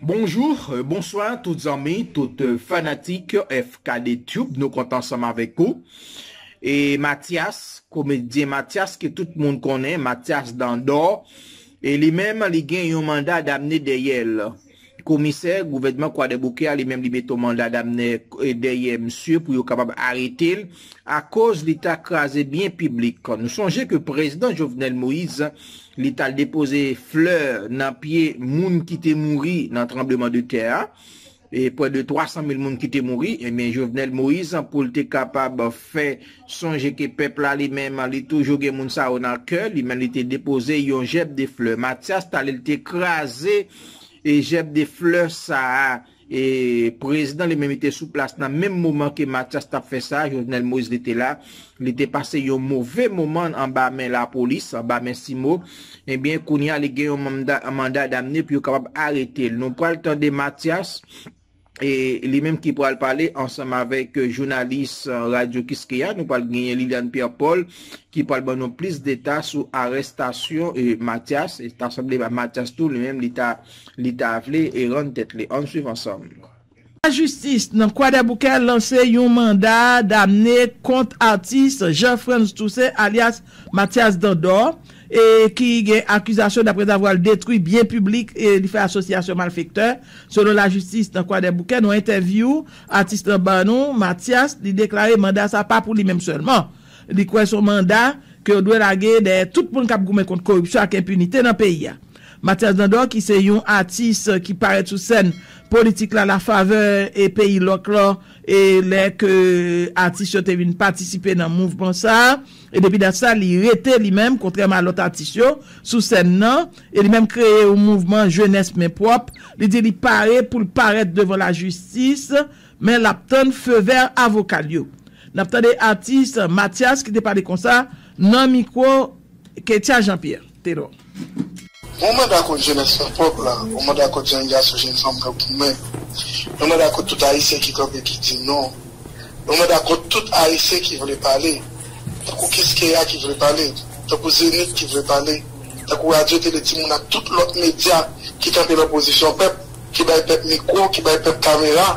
Bonjour, bonswa tout zanmi, tout fanatik FKD Tube nou kontan ansanm avèk ou e Matyas, komedyen Matyas ke tout moun konnen Matyas dan dò e li menm li gen yon manda damne dèyèl komisè gouvènman kwadèboukè a li menm li mete yon manda damne dèyè misye pou yo kapab aretel. akoz li ta kraze byen piblik. Nou sonje ke Prezdan Jovenel Moïse li tal depoze flè nan pye moun ki te mouri nan tranbleman de tè a, pwè de 300 mil moun ki te mouri, ebyen Jovenel Moïse pou l te kapab fè sonje ke pèp la li menm li toujou gen moun sa yo nan kè li men li te depoze yon jèb de flè. Matyas talil te kraze jèb de flè sa a. E prezidan li menm li te sou plas nan menm moman ke Matyas tap fè sa, Jovenel Moïse li te la, li te pase yon move moman anba men lapolis, anba men CIMO, ebyen kounye a li gen yon manda damne pou yo kapab arete l. Nou pral tande Matyas, e li menm ki pral pale ansanm avèk jounalis Radyo Kiskeya, nou pral genyen Liliane Pierre Paul ki pral ban nou plis deta sou arestasyon Matyas, e ta sanble Matyas tou li menm li ta. li ta vle e rann tèt li. Ann swiv ansanm. Lajistis nan Kwadèboukè lanse yon manda damne kont atis Jean Frantz Toussaint alyas Matyas Dandò e ki gen akizasyon daprèzavwa l detwi byen piblik e li fè asosyasyon malfektè selon lajistis nan Kwadèboukè. Nan yon entèvyou atis lan ban nou, Matyas, li deklare manda sa pa pou li menm sèlman. Li kwè son manda ke yo dwe lage dèyè tout moun k ap goumen kont koripsyon ak enpinite nan peyi a. Matyas Dandò ki se yon atis ki parèt sou sèn politik la la favè e peyi lòk lò e lè ke atis yo te vin patisipe nan mouvman sa a e depi dat sa li rete li menm kontrèman a lòt atis yo sou sèn nan e li menm kreye yon mouvman jenès men pwòp li di li pare pou l parèt devan lajistis men l ap tann feu vert avoka l yo n ap tande atis Matyas ki te pale konsa nan mikwo Ketya Janpyè. Tedor. Mwen mwen dakò jenès la pòv la mwen mwen dakò jenn gason jenn fanm yo goumen mwen mwen dakò tout ayisyen ki kanpe ki di non mwen mwen dakò tout ayisyen ki vle pale tankou kiskeya ki vle pale tankou zenith ki vle pale tankou radyo tele timoun ak tout lòt medya ki kanpe nan pozisyon pèp ki bay pèp mikwo ki bay pèp kamera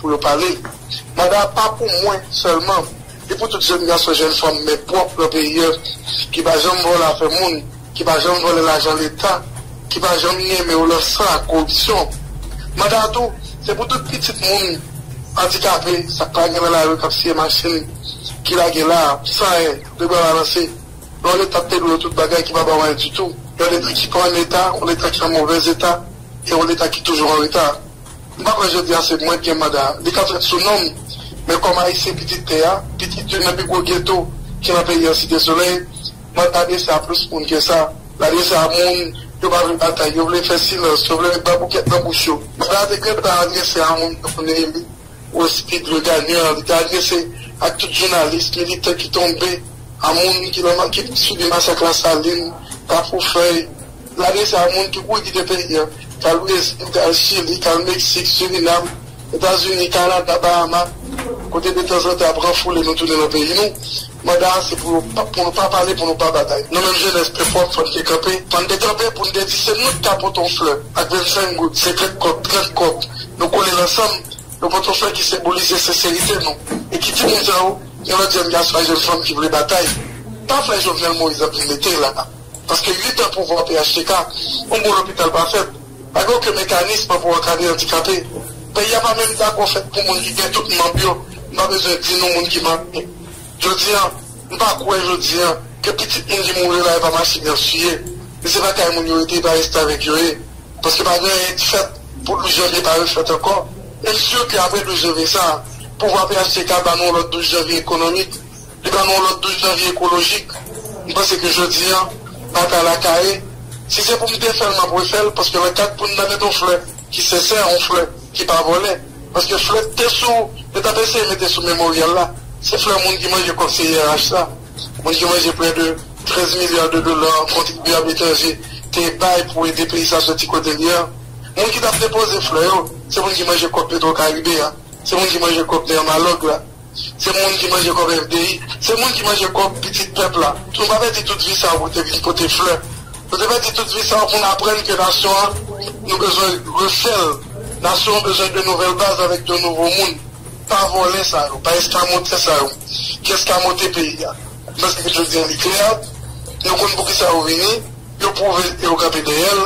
pou yo pale manda a pa pou mwen sèlman. E pou tout jèn gason jèn fanm men pwòp nan peyi an ki pa janm vòlè afè moun, ki pa janm vòlè lajan leta, ki pa janm nyenmen w lan san ak koripsyon. Manda a tou, se pou tout pitit moun andikape sa k pa gen nan lari k ap siye machin ki lage la a san anyen, de bra balanse, lè w leta te dwe yo tout bagay ki pa ba w anyen ditou. Yon leta ki pa an eta, yon leta ki an movèz eta e yon leta ki toujou an reta. M pa kwè jodi a se mwen k gen manda a. Li ka fèt sou non m, men kòm Ayisyen pitit tè a, pitit youn nan pi gwo geto ki nan peyi an Site Solèy, mwen pa adrese a plis moun ke sa. L adrese a moun yo pa vle batay, yo vle fè silans, yo vle met baboukèt nan bouch yo. Manda a te gentan adrese a moun tankou Néhémi Rospide, Leogane Jean, li te adrese ak tout jounalis, militan ki tonbe, a moun ki nan ki subi masak Lasalin, Kafoufèy, Lane sa a, moun ki kouri kite peyi an, k al Brezil, k al Chili, k al Meksik, Surinam, Etazini, Kanada, Bahama, kote detanzantan y ap ranfoule nou tounen nan peyi nou, manda a se pou yo pa pou nou pa pale, pou nou pa batay. Nou menm jenès pèp wòm fò n te kanpe, fò n te kanpe pou n te di se nou ki ka pote yon flè ak vennsenk goud, senkant kòb, trant kòb, nou kole l ansanm, nou pote yon flè ki senbolize senserite nou. E ki timoun sa yo? Yon lòt jenn gason ak jenn fanm ki vle batay. Pa flè Jovenel Moïse ap vin mete la a. Paske 8 an pouvwa phtk, yon bon lopital pa fèt, pa gen oken mekanism pou ankadre andikape. Peyi a pa menm dakò fèt pou moun ki gen tout manb yo, m pa bezwen di nou moun ki mare. Jodi an, m pa kwè jodi an ke pitit moun ki mouri yo lage pa machin yap siye, e se pa kay moun yo rete, e pa restavèk yo ye. Paske pa gen anyen ki fèt pou 12 janvye pa refèt ankò. E m sur ke apre 12 janvye sa a, pouvwa phtk ba nou yon lòt 12 janvye ekonomik. Li ban nou yon lòt 12 janvye ekolojik. M panse ke jodi an, batay la kaye. Si se pou m defè l, m ap refè l, paske nan kad pou n ta mete yon flè ki sensè, yon flè ki pa vòlè. Paske flè t te sou, yo t ap eseye mete sou Memoryal la, se flè moun ki manje kòb CIRH sa, moun ki manje prè de 13 milya de dola kontribyab etranje te bay pou ede peyi sa soti kote l ye an. Moun ki t ap depoze flè yo, se moun ki manje kòb Petwokaribe a, se moun ki manje kòb Nermalog la. Se moun ki manje kòb FDI, se moun ki manje kòb pitit pèp la. Nou pa pèdi tout vi sa yo pou te vin pote flè. Nou te pèdi tout vi sa yo pou n aprann ke nasyon an, nou bezwen refè l. Nasyon an bezwen de nouvèl baz avèk de nouvo moun. Pa vòlè sa yo, pa eskamotè sa yo ki eskamote peyi a. M panse ke jodi an li klè, nou konn poukisa yo vini, yo pwouve l e yo kanpe dèyè l.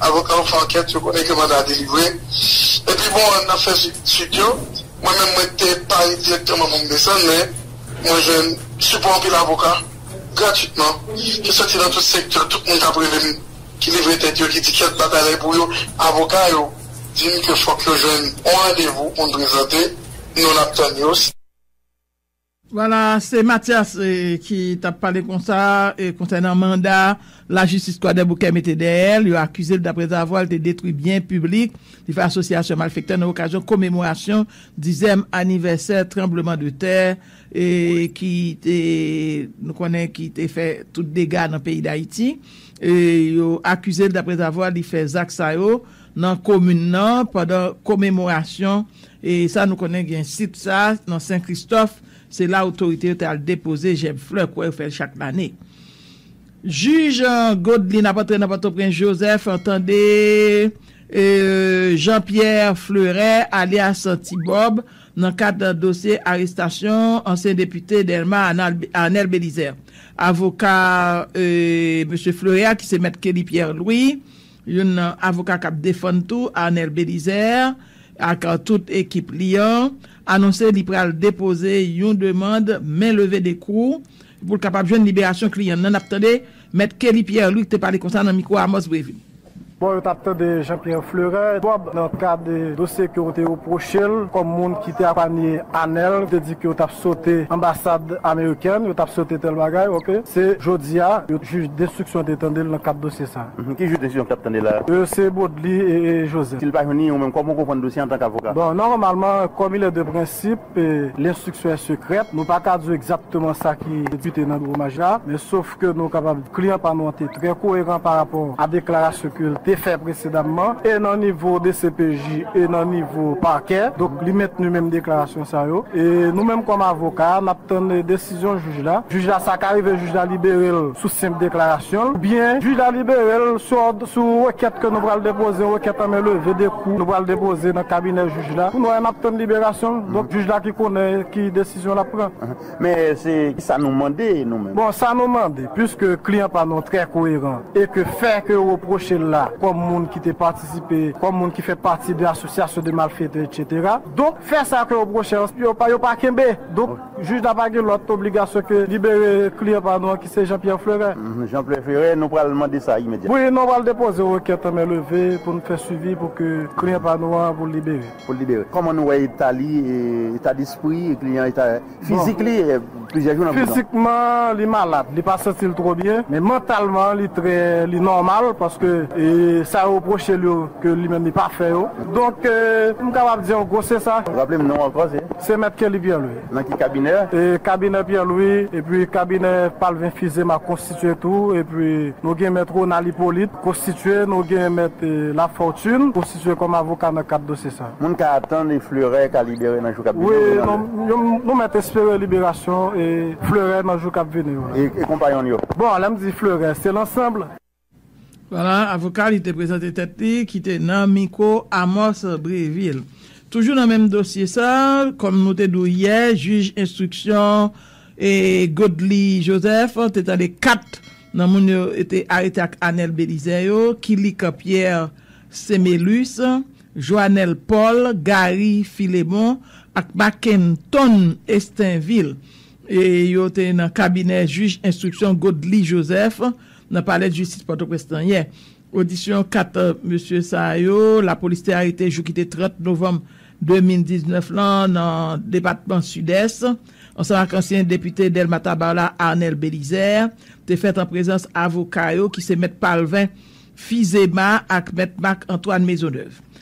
Avoka yo fè ankèt, yo konnen ke manda a delivre. Epi bon, ann ap fè suit yo. Mwen menm mwen te pa ye dirèkteman pou m desann, men mwen jwenn sipò anpil avoka gratwitman ki soti nan tout sektè. Tout moun k ap rele m, ki livre tèt yo, ki di kèt batay la e pou yo, avoka yo di m ke fòk yo jwenn yon randevou pou n prezante, nou n ap tann yo. Vwala, se Matyas ki t ap pale konsa konsènan manda lajistis Kwadèboukè mete dèyè l. Yo akize l daprèzavwa l te detwi byen piblik, li fè asosyasyon malfektè nan okazyon komemorasyon dizèm anivèsè tranbleman de tè ki te nou konnen ki te fè tout dega nan peyi Dayiti. Yo akize l daprèzavwa li fè zak sa yo. nan komin nan pandan komemorasyon e sa nou konnen gen sit sa nan Sen Kristòf se la otorite yo te al depoze jèb flè kwè yo fè l chak lane. Jij Godlin ap antre nan Pòtoprens Joseph tande Jean Pierre Fleuret alyas Ti Bòb nan kad dosye arestasyon ansyen depite Delma Arnel Belizaire. Avoka Mesye Fleuret a ki se mèt Kelly Pierre Louis, Youn nan avoka k ap defann tou Arnel Belizaire ak tout ekip li an anonse li pral depoze yon demand men leve de kou pou l kapab jwenn liberasyon kliyan l lan. N ap tande Mèt Kelly Pierre Luc te pale konsa nan mikwo Amos Brevin. Bon yo tap tande Jean Pierre Fleuret Bob nan kad dosye ke yo te repwoche l kòm moun ki te apanye Anel te di ke yo tap sote anbasad amerikèn yo tap sote tèl bagay ok se jodi a yo jij denstriksyon te tande l nan kad dosye sa. Hum ki jij desizyon ki tap tande la. Yo se Bodely e Joseph. Sil pa jwenn li ou menm koman ou konprann dosye antank avoka? Bon, nòmalman, kòm il est de principe, l'instruction est secrète, nou pa ka di w egzakteman sa ki debute nan biwo majistra a, men sof ke nou kapab di kliyan pa nou an te trè koyeran pa rapò a deklarasyon ke l te fè presedamman, e nan nivo dcpj e nan nivo pakè, donk li mentni menm deklarasyon sa yo. E nou menm kòm avoka, n ap tann desizyon. desizyon jij la, jij la sa ka rive jij la libere l sou senp deklarasyon l oubyen jij la libere l sou òd sou rekèt ke nou pral depoze yon rekèt an men leve de kou nou pral depoze nan kabinè jij la pou nou al n ap tann liberasyon l donk jij la ki konnen ki desizyon l ap pran. Men se sa nou mande nou menm. Bon sa nou mande puiske kliyan pa nou trè koyeran e ke fè ke yo repwoche l la kòm moun ki te patisipe kòm moun ki fè pati de asosyasyon de malfetè etc. Donk fè sa ke yo repwoche l yo pa kenbe donk Jij la pa gen lòt obligasyon ke libere kliyan pa nou an ki se Jean Pierre Fleuret. M. Jean Pierre Fleuret, nou pral mande sa imedyatman. Wi, nou pral depoze rekèt an men leve pou nou fè swivi pou ke kliyan pa nou an pou l libere. Pou l libere. Kòman nou wè eta li, eta despri kliyan, eta fizik li plizyè jou nan prizon? Fizikman li malad, li pa santi l twò byen, men mantalman li trè, li nòmal paske sa yo repwoche l yo ke li menm li pa fè yo. Donk, m kapab di an gwo se sa. Raple m non w ankò se? Se Mèt Kelly Pierre Louis. Nan ki kabinè? Kabinè Pierre Louis, epi kabinè Palvin Fils-Aimé a konstitye tou, epi nou gen Mèt Ronald Hyppolite konstitye, nou gen Mèt Lafortune konstitye kòm avoka nan kad dosye sa. Moun ka atann e Fleuret ka libere nan jou k ap vini yo? Wi, nou mèt espere liberasyon Fleuret nan jou k ap vini yo la. E konpayon l yo? Bon, lè m di Fleuret, se lansanb. Voilà, avoka li te prezante tèt li ki te nan mikwo Amos Brévil. Toujou nan menm dosye sa, kòm nou te di w yè, jij enstriksyon Godly Joseph te tande 4 nan moun yo te arete ak Anel Belizaire yo, Kilik Pierre Semelus, Joanel Paul, Gary Philémon ak Mackenton Estinvil. Yo te nan kabinè jij enstriksyon Godly Joseph nan palè jistis Pòtoprens lan yè. Odisyon 4 mesye sa yo lapolis te arete jou ki te 30 novanm 2019 lan nan depatman Sidès ansanm ak ansyen depite Dèlma Tabar la Arnel Bélizaire te fèt an prezans avoka yo ki se mèt Palvin Fizema ak mèt Marc Antoine Maisonneuve.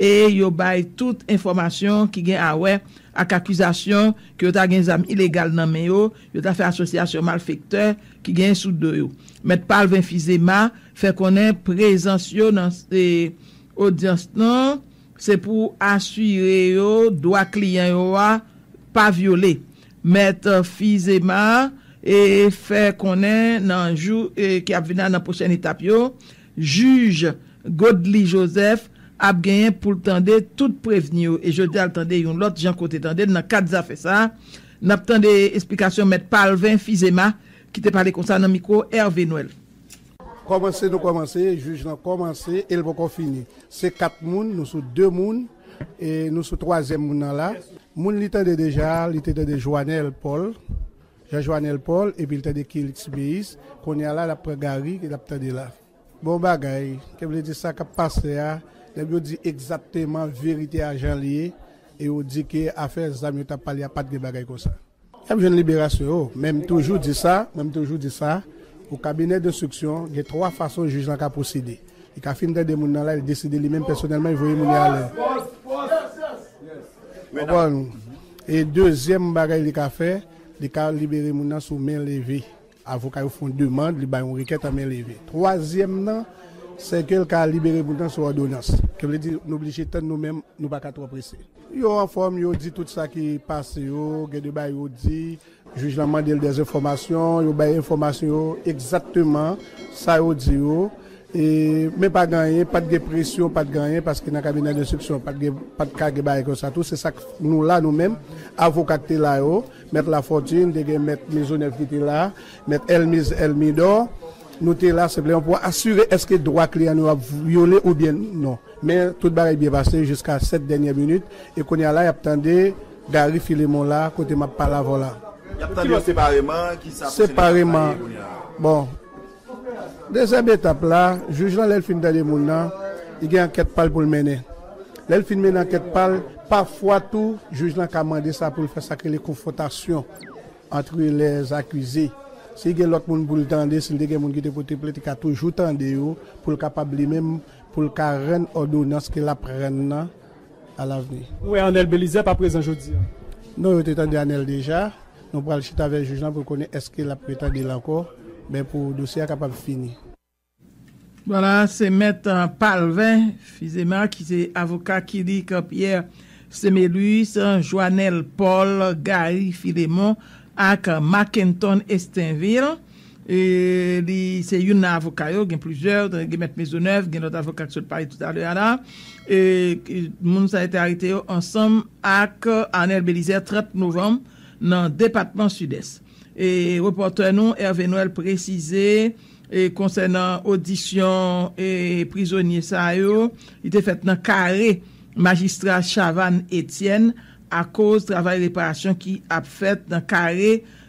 e yo bay tout enfòmasyon ki gen awè ak akizasyon ke yo ta gen zam ilegal nan men yo, yo ta fè asosyasyon malfektè ki genyen sou do yo. Mèt Palvin Fizema fè konnen prezans yo nan odyans lan se pou asire yo dwa kliyan yo a pa vyole. Mèt Fizema fè konnen nan jou ki ap vin la nan pwochèn etap yo, Jij Godly Joseph ap genyen pou l tande tout prevni yo e jodi a l tande yon lòt jan kote tande l nan kad zafè sa a n ap tande esplikasyon mèt Palvin Phizéma ki te pale konsa nan mikwo Hervé Noël. Kòmanse nou kòmanse, jij lan kòmanse e l poko fini. Se 4 moun, nou sou 2 moun e nou sou twazyèm moun nan la. Moun li tande deja a, li te tande Joanel Paul. Jean Joanel Paul epi l tande Kilix Tubeus kounye a la l ap pran Garry l ap tande la bon bagay ke vle di sa k ap pase a nèg yo di egzakteman verite a jan l ye e yo di ke afè zam yo t ap pale a pa t gen bagay konsa y ap jwenn liberasyon yo men m toujou di sa men m toujou di sa pou kabinè denstriksyon gen 3 fason jij lan ka pwosede li ka fin tande moun nan la li deside li menm pèsonèlman li voye moun yo alè w konprann. E dezyèm bagay li ka fè, li ka libere moun nan sou men leve. Avoka yo fè yon demand, li bay yon rekèt an men leve. Twazyèm nan, sèke l ka libere moun nan sou òdonans. Sa vle di, nou blije tann nou menm, nou pa ka twò prese. Yo anfòm, yo di tout sa ki pase yo, gen de bagay yo di. Jij lan mande l dè enfòmasyon, yo bay enfòmasyon yo egzakteman sa yo di yo e men pa gen anyen, pat gen presyon, pat gen anyen paske nan kabinè denstriksyon pat gen, pat ka gen bagay konsa tou, se sak nou la nou menm, avoka k te la yo, mèt Lafortune, te gen mèt Maisonneuve ki te la, mèt Elmise Elmidor, nou te la senpleman pou asire èske dwa kliyan nou yo ap vyole oubyen non. Men tout bagay byen pase jiska sèt dènyè minit e kounye a la y ap tande. Gary Philemon la kote map pale avèw la. Yap tande yo separeman, kisa pou Seneca ta ye kounye a? Bon, dezyèm etap la, jij lan lèl fin tande moun nan, li gen ankèt pal poul mennen. Lèl fin mennen ankèt pal, pafwa tou jij lan ka mande sa poul fè sak rele konfwontasyon antre lè zakize. Si gen lòt moun poul tande, sil te gen moun ki te pote plent li ka toujou tande yo poul kapab li menm poul ka rann òdonans ke lap rann nan. a lavni. Nou wè Anel Belizaire pa prezan jodi a. Non yo te tande Anel deja, nou pral chita avè jij lan pou l konnen eske lap retande l ankò ben pou dosye a kapab fini. Vwala se mèt Palvin Fizema ki se avoka Kilik Pierre Semélus, Joanel Paul, Gary Philémon ak Mackenton Estinvil. Li se youn nan avoka yo, gen plizyè, gen mèt Maisonneuve, gen lòt avoka ki sot pale toutalè a la. Moun sa yo te arete yo ansanm ak Arnel Belizaire 30 novanm nan depatman Sidès. Repòtè nou Hervé Noël presize konsènan odisyon prizonye sa yo, li te fèt nan kare majistra Chavanne Etienne akoz travay reparasyon ki ap fèt nan kare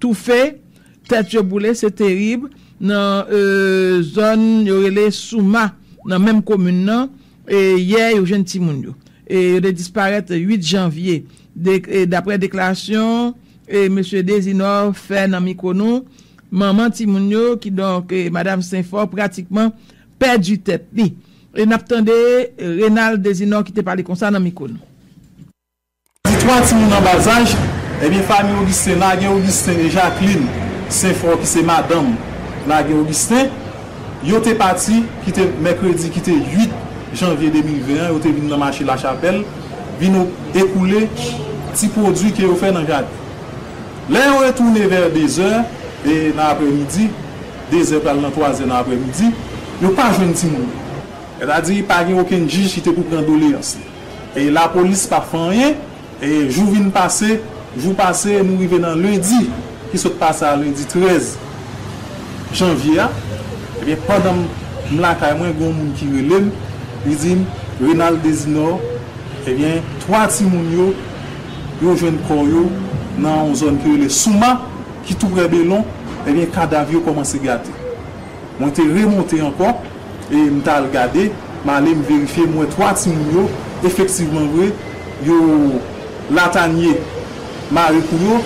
toufe, tèt yo boule se terib nan zòn yo rele Souma nan menm komin nan yè yo jwenn timoun yo yo te disparèt 8 janvye daprè deklarasyon mesye Dezinò fè nan mikwo nou manman timoun yo kidonk madam Senfò pratikman pèdi tèt li nap tande Renald Dezinò ki te pale konsa nan mikwo nou. Di 3 timoun an ba zaj, Ebyen fanmi Ogisten lage Ogisten e Jaklin Senfò ki se madanm lage Ogisten. Yo te pati kite mèkredi ki te 8 janvye 2020 an, yo te vin nan mache Lachapèl vin ekoule ti pwodui ke yo fè nan jaden. Lè yo retounen vè 2 zè e nan aprè midi, 2 zè pral nan 3 zè nan aprè midi, yo pa jwenn timoun yo. Sètadi pa gen okenn jij ki te pou pran doleyans li. Lapolis pa fè anyen, jou vin pase, jou pase nou rive nan lendi ki sot pase a lendi 13 janvye a, ebyen pandan m lakay mwen gen yon moun ki rele m li di m Renald Dezinò ebyen 3 timoun yo, yo jwenn kò yo nan yon zòn ki rele Souma ki tou prè Belon ebyen kadav yo kòmanse gate. Mwen te remonte ankò e m t al gade, m ale m verifye, m wè 3 timoun yo, efektivman vre, yo Latanye mare kou yo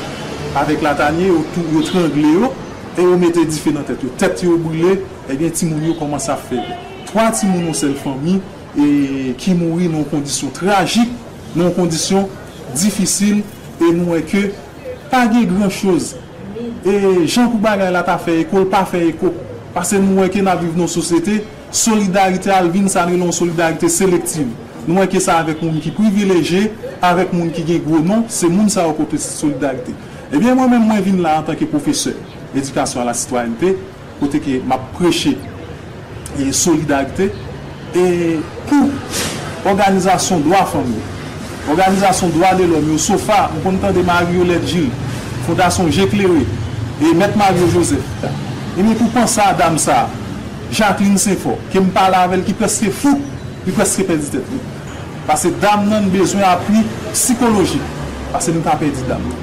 avèk Latanye, yo tou, yo trangle yo e yo mete dife nan tèt yo. Tèt yo brile, ebyen timoun yo kòmanse ap fè vè. 3 timoun yon sèl fanmi e ki mouri nan yon kondisyon trajik, nan yon kondisyon difisil e nou wè ke Pa gen gran choz e jan pou bagay la ta fè eko l pa fè eko pase nou wè ke n ap viv nan yon sosyete solidarite a al vin sa n rele yon solidarite selektiv nou wè ke sa avèk moun ki privileje avèk moun ki gen gwo non se moun sa yo pote solidarite ebyen mwen menm mwen vin la antanke pwofesè edikasyon alasitwayènte. Kote ke map preche solidarite e pou òganizasyon dwa fanm yo, òganizasyon dwa de lòm yo, sofa, m konn tande Marie Yolette Gilles, Fondasyon Je Klere, e Mèt Mario Joseph. Ebyen pou panse a dam sa, Jacqueline Senfort, ke m pale avè l ki prèske fou, li prèske pèdi tèt li. Pase dam nan bezwen apui sikolojik, pase nou ta pèdi dam nan.